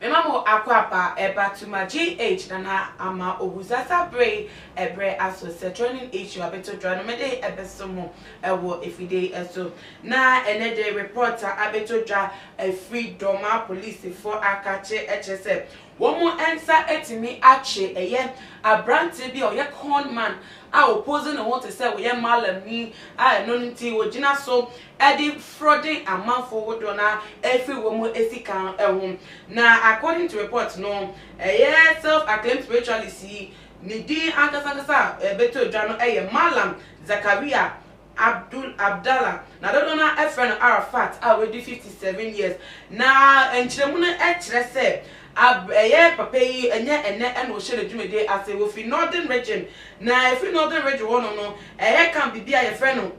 Mema mo akwaaba ɛba to ma GH nana ama owu sasa bere ɛbrɛ aso setronin issue abeto dra no mede ɛbɛso mo ɛwɔ efide yi ɛso na ɛnɛ de report a abeto dra ɛfiri dɔmaa police foɔ aka kye ɛkyerɛ sɛ Wɔn nsa atumi akye ɛyɛ aberanteɛ bi a ɔyɛ con man a ɔpose ne ho te sɛ ɔyɛ malamni a ɛno nti ɔgyina so de frɔde amanfoɔ hodoɔ no ara ɛfiri wɔn sika ho. Na according to report no, ɛyɛ self acclaimed spiritualist yi ne din ankasa ankasa a ɛbɛtɔ dwa no yɛ Malam Zakaria. Abdul Abdallah, na dodoɔ no ara frɛ no Arafat a wadi 57 years, na nkyerɛmu no kyerɛ sɛ Ab ɛyɛ papa yi ɛnyɛ ɛnnɛ na ɔhyɛ ne dwumadie ase, ɔfiri Northern Region, na ɛfiri Northern Region hɔnom no ɛyɛ camp bi a yɛfrɛ no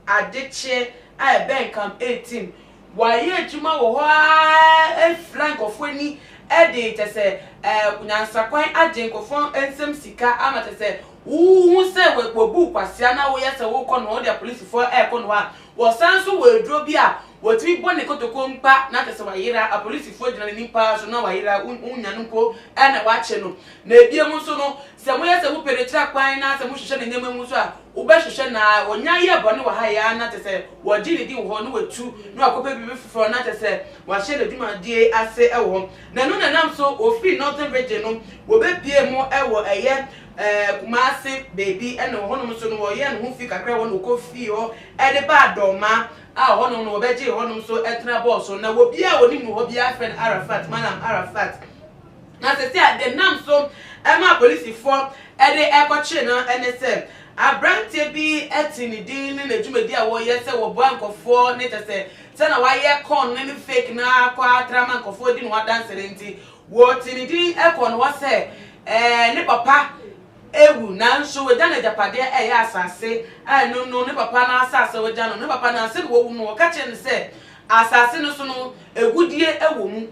Adekyeɛ a ɛbɛn Camp 18 Wɔayɛ adwuma wɔ hɔ ara afira nkurɔfoɔ ani de kyɛ sɛ nyansakwan agye nkurɔfoɔ nsam sika ama kyɛ sɛ wohu sɛ wɔabu wo kwasea na woyɛ sɛ wokɔ nohoa wode apolisifoɔ rekɔ nohoa. Wɔsan nso wɔ aduro bi a wɔtumi bɔ ne kotoko mpa na kyɛ sɛ wayera, apolisifoɔ gyina n'anim pa ara so na wayera, wonnya no mpo na wɔakye no. Na biom nso no, Sɛ moyɛ sɛ mopɛ n'akyira kwan na sɛ mohwehwɛ ne nneɛma mu nso a, wobɛhwehwɛ no ara. Wɔnya yɛ bɔne wɔ ha yɛ ara na kyerɛ sɛ wɔgye ne din wɔ hɔ, na wɔatu, na wɔakɔpɛ biribi foforɔ na kyerɛ sɛ wɔahyɛ n'adwumadie ase wɔ hɔ. Na ɛno na ɛnam so wɔfiri Northern Region no, wɔbɛpuee mu wɔ ɛyɛ Kumasi baabi, ɛna wɔ hɔnom nso no wɔyɛɛ ne ho fie kakra wɔ na wɔkɔfii hɔ de baa Dormaa, a ɛhɔnom no wɔbɛgyee hɔnom nso tena bɔɔl so. Na obiara a wɔnim no wɔ hɔ biara frɛ no Arafat, Malam Arafat. Na sɛsɛ a denam so ma apolisifoɔ de rekɔkyere no ne sɛ, aberanteɛ bi te ne din ne n'adwumadie a wɔyɛ sɛ wɔboa nkurɔfoɔ ne kyɛ sɛ sɛ na wayɛ con ne ne fake no ara kɔ ara tra ma nkurɔfoɔ di ne ho adanse no nti, wɔte ne din kɔɔ ne hɔ sɛ ɛɛ ne papa awu nanso wagya no agyapadeɛ ɛyɛ asase a ɛno no ne papa no asase a wagya no ne papa no ansa na wawu no wɔka kyerɛ no sɛ asase no so no agudie wɔ mu.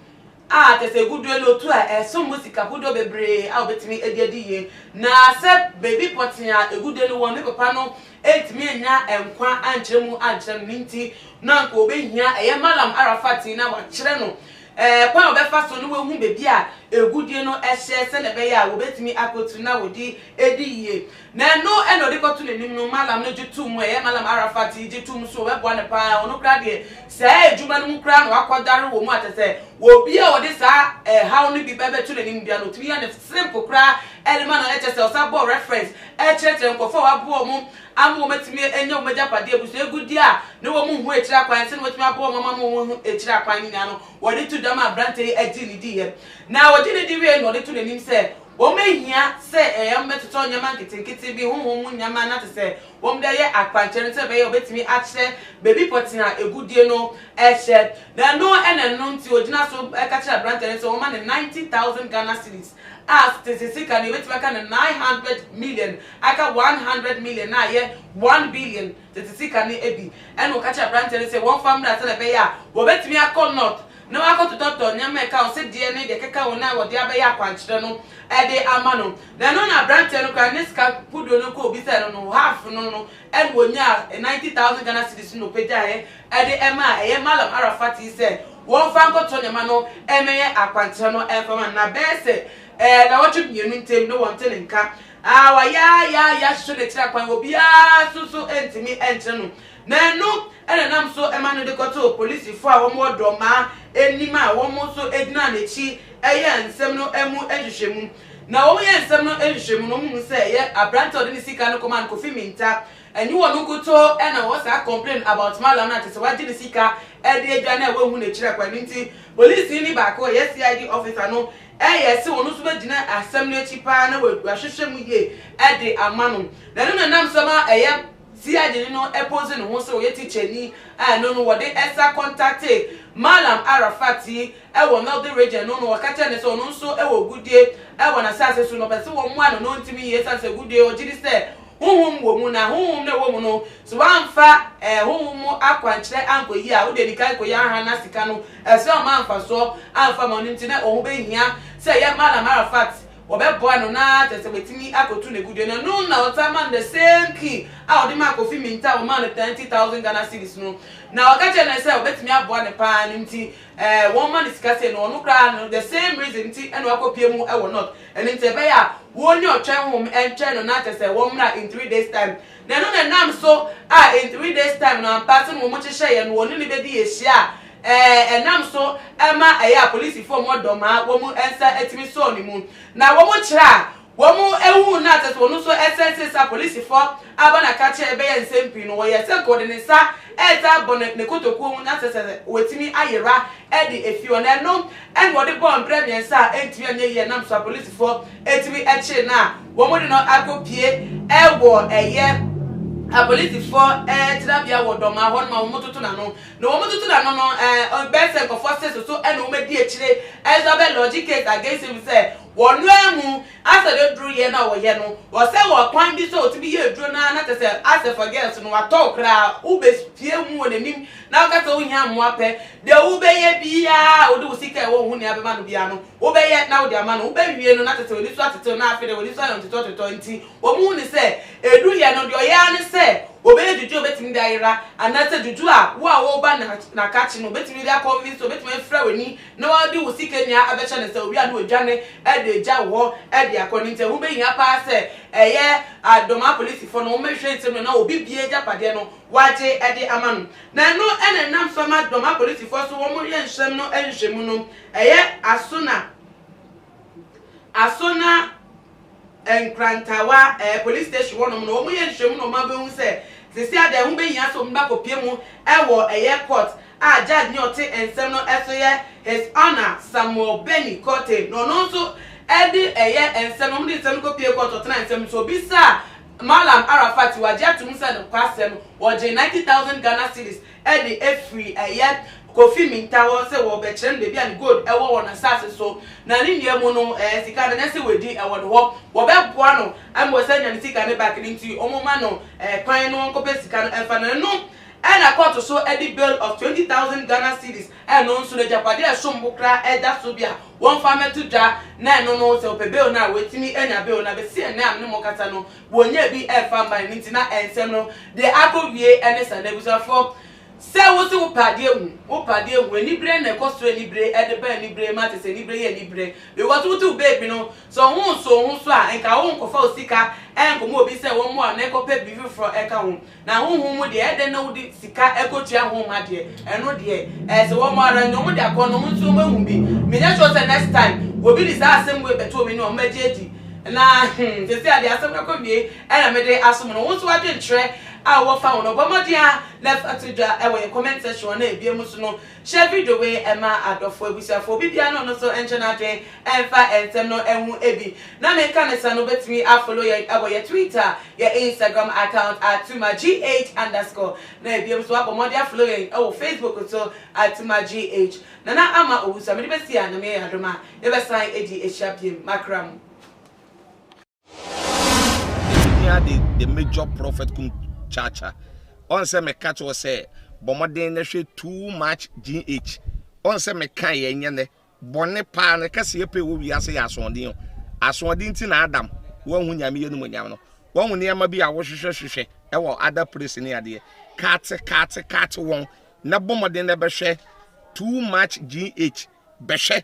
a kyerɛ sɛ egu due no otu a ɛsom bo sika hodoɔ bebree a obetumi de adi yie. Na sɛ baabi pɔtee a egu due no wɔ no ne papa no antumi annya nkwa ankyerɛ mu ankyerɛ no no nti no anka obehia ɛyɛ Malam Arafat yi na wakyerɛ no kwan a ɔbɛfa so na wahu baabi a egu due no hyɛ sɛnea ɛbɛyɛ a wobetumi akotu na wɔde adi yie. Na ɛno na ɔde kɔto n'anim no, Mallam no gye toom, ɛyɛ Mallam Arafat yi gye toom nso, wɔbɛboa no paa, ɔno koraa deɛ saa adwuma no mu koraa na wakɔdware wɔ mu a kyerɛ sɛ obi a ɔde saa ɛhaw no bi bɛbɛto n'anim biara no ɔtumi yɛ no simple koraa de ma no, kyerɛ sɛ ɔsan bɔɔ reference kyerɛkyerɛ nkurɔfoɔ a waboa wɔn ama wɔn atumi anya wɔn agyapadeɛ abusua agudeɛ a na wɔn nhu akyire akwan sɛdeɛ wɔatumi aboa wɔn ama wɔn ho akyire akwan no nyinaa no wɔde to dwa ma aberanteɛ yi agye ne diiɛ na ɔgye ne di wie na ɔde to n'anim sɛ Wɔbehia sɛ ɛyɛ wɔbɛtotɔ nneɛma nketenkete bi, honhom mu nneɛma na te sɛ wɔde ayɛ akwankyerɛ no sɛnea ɛbɛyɛ a wɔbetumi akyerɛ baabi pɔtee a agudie no hyɛ. Na ɛno na ɛno nti ogyina so ka kyerɛ aberante no sɛ wɔmma no ninety thousand Ghana cedis a tete sika no ebetumi aka no nine hundred million aka one hundred million na ayɛ one billion tete sika no bi. Ɛnna ɔka kyerɛ aberante no sɛ wɔmfa mmra sɛnea ɛbɛyɛ a wɔbetumi akɔ North na wakɔtotɔtotɔ nneɛma a ɛka ɔsedeɛ ne deɛ ɛkeka ho no a wɔde abɛyɛ akwankyerɛ no de ama no. Na ɛno na aberanteɛ no koraa ne sika kodoɔ no kɔ obisaeɛ no no half no no na ɔnyaa ninety thousand Ghana cedis no na ɔpagyaeɛ de ɛmaa ɛyɛ Mallam Arah Fattey sɛ wɔmfa nkɔtotɔ nneɛma no mmɛyɛ akwankyerɛ no mfa ma no. Na ɛbɛyɛ sɛ nnawɔtwe mmienu ntam na wɔnte ne nka. Wɔayɛ ara yɛ ara yɛ ara hwehwɛ no akyiri akwan, obiara nso so ntumi nkyerɛ no Na ɛno na ɛnam so ma no de kɔtoo polisifo a wɔwɔ Dormaa anim a wɔn nso gyinaa n'akyi yɛɛ nsɛm no mu nhwehwɛmu. Na wɔyɛɛ nsɛm no nhwehwɛmu no, wɔhuu sɛ ɛyɛ aberante a ɔde ne sika no kɔmaa no, Kofi Minta. Ɛnyɛ ɔno nkutoo na ɔwɔ saa complain about Mallam no a, kyerɛ sɛ wagye ne sika de adwane a wɔanhu n'akyiri akwan. Ɛno nti polisini baako a ɔyɛ CID officer no yɛɛ sɛ ɔno nso bɛgyina asɛm no akyi paa na wahwehwɛ mu yie de ama no. Na ɛno na ɛnam so ma ɛyɛ. Siajini no pose ne ho sɛ ɔyɛ tikyani a ɛno no wɔde nsa kɔntate Mallam Arafat yi wɔ Northern Region no na wɔka kyerɛ no sɛ ɔno nso wɔ agudeɛ wɔ n'asase so na ɔpɛ sɛ wɔmmoa no na ɔntumi yie ɛsiane sɛ agudeɛ ɔgye di sɛ honhom wɔ mu na honhom no a ɛwɔ mu no sɛ wamfa honhom mu akwankyerɛ ankɔyi a wode adi kan kɔyi anha na sika no ɛsɛ ɔma mfasoɔ amfa ma ɔno nti na ɔho bɛhia sɛ ɛyɛ Mallam Arafat Wɔbɛboa no na kyerɛ sɛ watumi akotu n'agudeɛ no. Ɛno na ɔsan maa no the same key a ɔde maa Kofi Mintah a wɔmaa no thirty thousand Ghana cedis no. Na ɔka kyerɛɛ no sɛ ɔbɛtumi aboa no paa no nti ɛɛ wɔmma no sika sei no. Ɔno koraa no the same reason nti ɛna wakɔpue mu wɔ North. Ɛno nti ɛbɛyɛ a wɔnni ɔtwɛn honhom ntwɛn no na kyerɛ sɛ wɔmmra in three days time. Na ɛno na ɛnam so a in three days time no ampa sɛdeɛ wɔhyehyɛeɛ no wɔne no bɛdi ahyia a Ɛnam so ma ɛyɛ a polisifo mmɔ dɔ ma wɔn nsa tumi sɔɔ ne mu, na wɔn kyerɛ a wɔhuu no a kyerɛ sɛ ɔno nso sɛnsen sɛ apolisifo aba no aka kyerɛ bɛyɛ nsɛm pii no, wɔyɛɛ sɛ anka ɔde ne nsa resa abɔ ne kotokuo mu na kyerɛ sɛ watumi ayera de afi hɔ. Na ɛno na ɔde bɔɔ mprɛ mmiɛnsa a antumi anyɛ yie ɛnam so a polisifo tumi kyeree no a wɔde no akɔpue wɔ ɛyɛ apolisifo tenabea wɔ Dɔmaa hɔnom a wɔtoto n'ano. Na wɔn tutu na no no eh ɔbɛyɛ sɛ nkɔfoɔ se soso ɛna wɔn adi akyire ɛnso abɛ lodge case against him sɛ wɔ noaa mu asɛ ne duro yɛ na ɔyɛ no ɔsɛ wɔ kwan bi so ɔtumi yɛ aduro noaa na kyɛsɛ asɛ for girls no watɔ wo koraa wo bɛ fie mu wɔ nanim na wo kasɛ wo hia mmoa pɛ deɛ wo bɛ yɛ biaa wode wo sika ɛwɔ wo ho nea bɛma no biaa no wo bɛ yɛ na wode ama no wo bɛ wie no na kyɛsɛ wani so atetew na afei deɛ wani so ayɛ ntetɔtetɔ nti Wɔhu no sɛ edu yɛ no, deɛ ɔyɛ ara ne sɛ ɔbɛyɛ juju a ɔbɛtumi de ayera, anaasɛ juju a wo a woreba no akakye no wobɛtumi de akɔnvinse no, ɔbɛtumi afira w'ani na wade wo sika nyinaa abɛkyɛ no, sɛ owie a na wadwane de agya wo hɔ de akɔ. No nti ɛho bɛhia pa ara sɛ ɛyɛ dɔm apolisifoɔ no wɔbɛhwɛ nsɛm no mu na obi biara agyapadeɛ no wagye de ama no. Na ɛno na ɛnam so ama dɔm apolisifoɔ nso wɔyɛ nsɛm no nhwehwɛmu no, ɛyɛ aso na. Aso na Nkrantawa eh, police station hɔnom no, wɔyɛ nhwɛmu na wɔabɛhu sɛ sisi a deɛ ɛho bɛhia sɛ wɔbɛkɔpie mu wɔ ɛyɛ court a judge ne ɔte nsɛm no so yɛ His Honour Samuel Benny Kortey na ɔno nso de ɛyɛ nsɛm no, wɔde nsɛm no kɔpie court ɔtena nsɛm no so ɔbisaa Mallam Arafat wagye atom sɛ nokwasɛm ɔgye ninety thousand Ghana cedis de afiri ɛyɛ Kofi Minta hɔ sɛ wɔbɛkyerɛ no baabi a ne gold wɔ wɔ n'asase so, na ne nua mu no ɛɛ sika no nyɛ sɛ wadi wɔ ne hɔ, wɔbɛboa no ma wasan anya ne sika no back, ne nti wɔmma no ɛɛ kwan na ɔnkɔpɛ sika no mfa, na ɛno na kɔɔto so de bail of twenty thousand Ghana cedis, ɛno nso no agyapadeɛ a ɛsom bo koraa da so bi a wɔmfa mmɛto dwa, na ɛno no sɛ ɔpɛ bail no a watumi anya bail, na bɛsi ɛnnɛ a me ne mo rekasa no Wɔnyɛ bi ɛfa mma ɛno nti na ɛnsɛm no deɛ akɔ wie ɛne saa na abusuafoɔ sɛ wo se wo pɛ adeɛ hu wo pɛ adeɛ hu anibire na ɛkɔ soro anibire ɛde ba anibire ma te sɛ anibire yɛ anibire because wo te wo baby no sɛ ɔho nso wo ho so a nka wo nkɔ fa wo sika ɛnkɔ ma obi sɛ wɔmmoa wo na ɛkɔ pɛ biribi foforɔ ɛka ho Na honhom mu deɛ, ɛdɛn na wode sika kɔtua ho ma deɛ, ɛno deɛ, ɛsɛ wɔn ara, nea wɔde akɔ no, wɔn nso wɔahu bi. Menyɛ sure sɛ next time, obi de saa asɛm wei bɛto me ne wɔn, mɛgye adi. Na, hmm, seesei ara deɛ, asɛm no akɔwiei na mede asom no. Wo nso w'adwenkyerɛ a wowɔ fa ho no, bɔ mmɔden ara na fa to dwa wɔ yɛn comment section hɔ na ebia mu nso no, Hyɛ video wei ma adɔfoɔ abusuafoɔ, obi biara ne ɔno so nkyɛ n'adwen mfa nsɛm no ho ebi na meka no sa no wobɛtumi a follow yɛn ɛwɔ yɛ twitter, yɛ instagram account atuma GH underscore na ebiem nso wabɔ mmɔden a follow yɛn ɛwɔ facebook nso atuma GH. Nana Ama Owusu a mede bɛsi a Nyame yɛ yɛn adom a yɛbɛsan adi ahyia biem, makra mo. Yɛhia de the major prophet kum kyaakya. Ɔn sɛ me ka kyerɛ sɛ bɔ mmɔden na hwɛ too much GH. Ɔn sɛ me ka yɛ nyɛ nɛ bɔne paa ne kɛse yɛ pɛ wɔ wiase yɛ asoɔden o. Asoɔden nti na Adam wanhu Nyame yɛ numonyam no. Wahu nneɛma bi a wo hwehwɛ hwehwɛ ɛwɔ other place ne adeɛ. Kaate kaate kaate wɔn na bɔ mmɔden na bɛ hwɛ too much GH. Bɛ hwɛ.